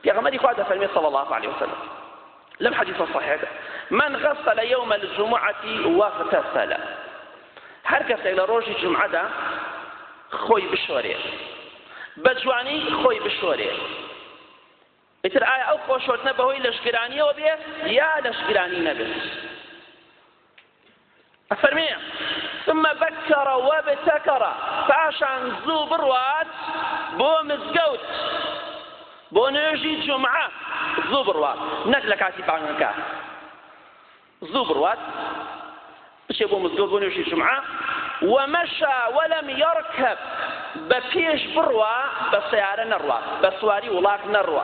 پێغەمبەری خوا دەفەرمێت صلی اللە علیە وسلم لەم حەدیثە صحیحەکە من غسل یوم الجمعة واغتسل هەر کەسێک لە ڕۆژی جمعەدا خۆی بشۆرێ بە جوانی خۆی بشۆرێ ئیتر ئایا ئەو خۆشۆردنە بەهۆی لەشگرانیەوە بێ یا لەشگرانی نەبێت ئەفەرمێ، ثم بکر وابتکر، پاشان زوو بڕوات بۆ مزگەوت، بۆ نوێژی جومعە زوو بڕوات، نەک لە کاتی بانگەکە، زوو بڕوات بچێ بۆ مزگەوت بۆ نوێژی جومعە، ومشا ولم یرکب، بە پێش بڕوا بە سەیارە نەڕوا، بە سواری وڵات نەڕوا.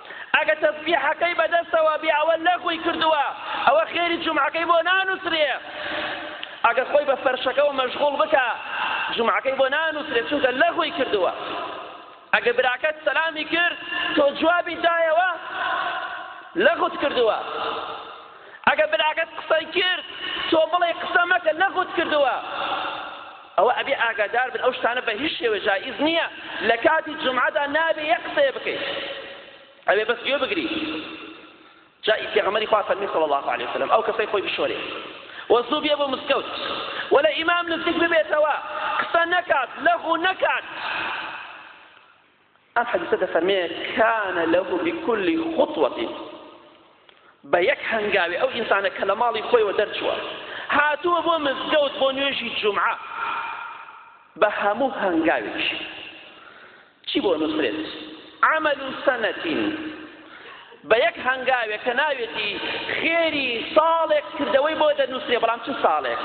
ئەگەر تەسبیحەکەی بەدەستەوە بێ ئەوە لەغوی کردووە ئەوە خێری جومعەکەی بۆ نانووسرێ ئەگەر خۆی بە فەرشەکەەوە مەشغوڵ بکە جومعەکەی بۆ نانووسرێ چونکە لەغوی کردووە ئەگەر براکەت سەلامی کرد تۆ جوابی دایەوە لەغوت کردووە ئەگەر براکەت قسەی کرد تۆ بڵێ قسە مەکە لەغوت کردووە ئەوە ئەبێ ئاگادار بن ئەو شتانە بە هیچ شێوە جائیز نییە لە کاتی جومعەدا نابێ یەک قسەیە بکەیت ئەبێ بەس گوێ بگری جا پێغەمبەری خوا فەرمی صلی الله علیه وسلم ئەو کەسەی خۆی بشۆرێ وەزوو بێ بۆ مسکەوت و لە ئیمام نزیک ببێتەوە قسە نەکات لەغو نەکات ئەم حەدیسە دەفەرمێ کان له بكل خطوة بە یەک هەنگاوێ ئەو ئینسانە کە لە ماڵی خۆیەوە دەرچووە هاتووە بۆ مزگەوت بۆ نوێژی جمعە بە هەموو هەنگاوێک چی بۆ نووسرێت عمل سنتین بە یەک هەنگاوێک کە ناوێتی خێری ساڵێک کردەوەی بۆ دەنووسێ بەڵام چ ساڵێک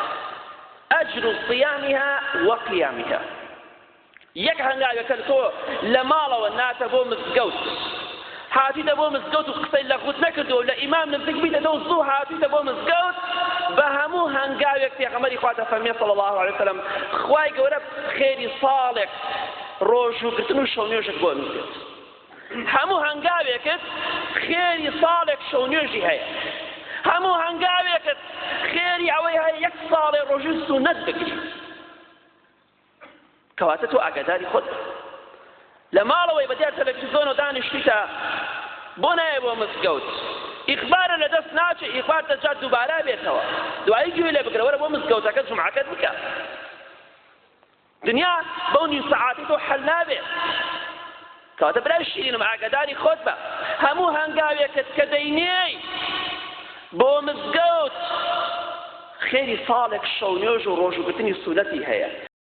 ئەجر و صیامیها وەقیامیها یەک هەنگاوێک کە تۆ لە ماڵەوە ناتە بۆ مزگەوت هاتیتە بۆ مزگەوت و قسەی لە غوت نەکردو و لە ئیمام نزیک بیتەوە و زوو هاتیتە بۆ مزگەوت بە هەموو هەنگاوێک پێغەمبەری خوا دەفەرمێ صلی الله علیه وسلم خوای گەورە خێری ساڵێک ڕۆژووگرتن و شەونێژت بۆ نووسێت هەموو هەنگاوێکت خێری ساڵێک شەونێژی هەیە هەموو هەنگاوێکت خێری ئەوەی هەیە یەک ساڵێ ڕۆژی سونەت بکرێت کەواتە تۆ ئاگاداری خۆت لە ماڵەوەی بەدیار تەلەفیزۆن و دانیشتیتە بۆ نایە بۆ مزگەوت ئیخبارە لە دەست ناچێ ئیخبار دەجات دووبارە بێتەوە دوایی گوێ لێ بگرە وەرە بۆ مزگەوتەکە جمعەکەت بکە دنیا بەو نیو سەعاتی تۆ حەل نابێت کەواتە برای شیرینم ئاگاداری خۆت بە هەموو هەنگاوێکت کە دەینێی بۆ مزگەوت خێری ساڵێک شەو نوێژ و ڕۆژوگرتنی سولەتی هەیە